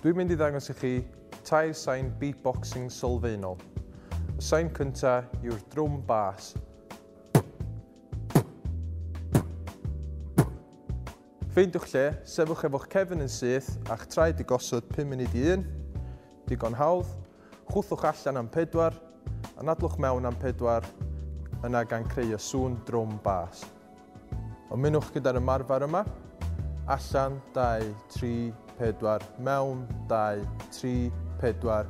Dwi'n mynd i ddangos i chi tair sain beatboxing sylfaenol. Y sain cynta yw'r drwm bas. Ffeindiwch lle, sefwch efo'ch cefn yn syth a'ch traed i gosod 5 munud i un. Digon hawdd. Chwthwch allan am pedwar, anadlwch mewn am pedwar, yna gan creu y sŵn drwm bas. Ymunwch gyda'r ymarfer yma, Allan, dau, tri, pedwar, Mewn, dau, tri, pedwar,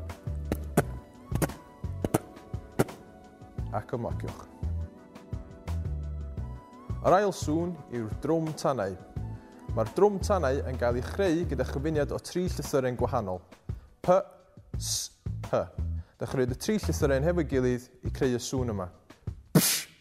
ac ymlaciwch. Yr ail sŵn yw'r drwm tanau. Mae'r drwm tanau yn cael ei chreu gyda chyfuniad o tri llythyren gwahanol, P, S, H. Dechreuwyd y tri llythyren hefo'i gilydd i creu y sŵn yma. Psh!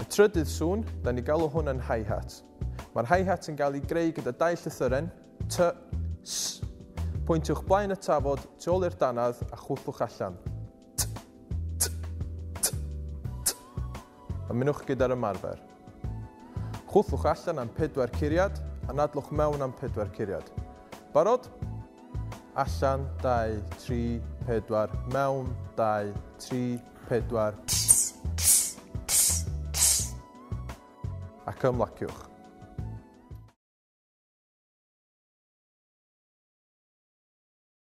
Y trydydd sŵn, da ni galw hwn yn hi-hat. Mae'r hi-hat yn cael ei greu gyda dau llythyren, T, S. Pwyntiwch blaen y tafod tu ôl i'r dannedd a chwthlwch allan. T, T, T, T. Ymunwch gyda'r ymarfer. Chwthlwch allan am pedwar curiad a nadlwch mewn am pedwar curiad. Barod? Allan, 2, 3, 4, mewn, 2, 3, pedwar, ac ymlaciwch.